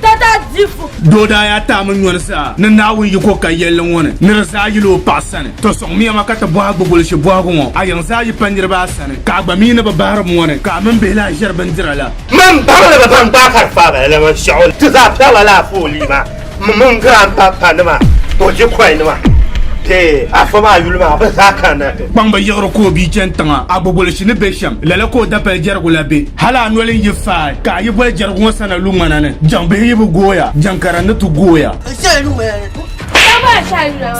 Dada dibu. Doo daa yaa taai mi nyɔri zaa ni Naawuni yi ko ka yɛlli ŋɔ ni ni di zaa yili o paɣa sani. To sɔŋmiya ma ka ti bɔhi a gbugolishi bɔhigu ŋɔ, A yiŋ zaa yi pa niriba a sani, ka a gba mi ni bi bahiri buŋɔ ni, ka a mini bihi lahi ʒiri bindira la? Mani baŋ ni bɛ baŋ gbaai ka di faai ba lala ŋɔ shɛɣu ni ti zaa piɛgila lala foolii maa m mini girampapa nima Dodgy Kɔy nima bee Afo maa yuli maa bɛ zaa kanna ti. Kpaŋ bi yiɣiri ka o bia chani tiŋa a gbugolishi ni be shɛm. Lala ka o dapali jɛrigu la be. Hal a noli n-yi faai ka a yi boli jɛrigu ŋɔ sana lu ŋmana ni, jaŋ bihi yi bi gooya, jaŋ kara n-ni ti gooya. Sana lu ŋmana ni.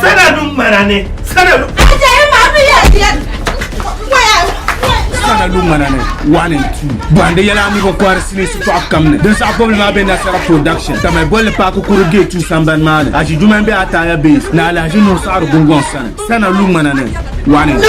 Sana lu ŋmana ni. Sana lu. Sana lu ŋmana ni, one and two. Bɔhindi yɛla a mi bi kɔhiri sinii shitɔɣu kam ni. Din saɣi bɔbili maa be Nasara Production, ka mali bolli paaki kuru gate two sambani maa ni. Aʒi duma m-be Ataaya Base ni Alahaʒi Nuhu Saɣiri Gungɔŋ sani. Sana lu ŋmana ni, one and two.